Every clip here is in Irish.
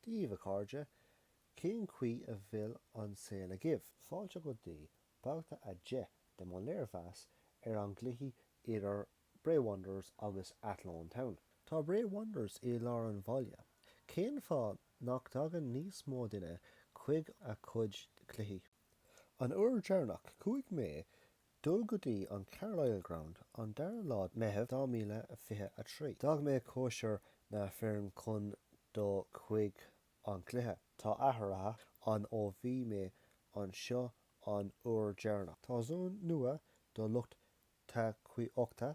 Daoibh a chairde, cén chaoi a bhfuil an saol agaibh? Fáilte go dtí babhta a deich de mo léirmheas ar an gcluiche idir Bray Wanderers agus Athlone Town. Tá Bray Wanderers i lár an bhaile, cén fáth nach dtagann níos mó duine chuig a chuid cluichí? An uair dheireanach chuaigh mé Dul go dtí an Carlisle Ground an 2ú lá Meitheamh 2023. D'fhág mé cóisir na foirne chun dul chuig an gcluiche. Tá athruithe ann ó bhí mé anseo an uair deireanach. Tá zón nua do lucht tacaíochta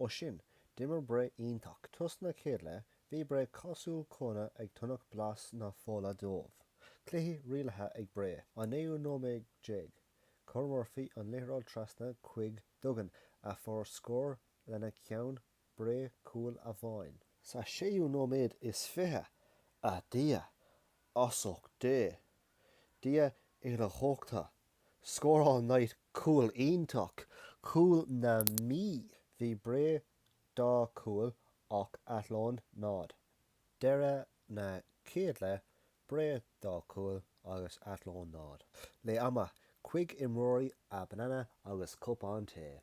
Ó sin, d'imir Bré iontach. Tús na chéad leith, bhí Bré cosúil cúnna ag tnúth blas na fola dóibh. Cluiche rialaithe ag Bré. An naoú nóiméad déag, chuir Murphy an liathróid trasna chuig Duggan a fuair scór lena cheann Bré cúl amháin. Sa séú nóiméad is fiche, A Dhia! As ucht Dé! Dia idir dhá thóchta! Scóráil Knight cúl iontach, cúl na Mí. Bhí Bré dá chúl ach Athlone 0. Deireadh na chéad leath, Bré dá chúl agus Athlone 0. Leath ama chuig imreoirí a banana agus cupán tae.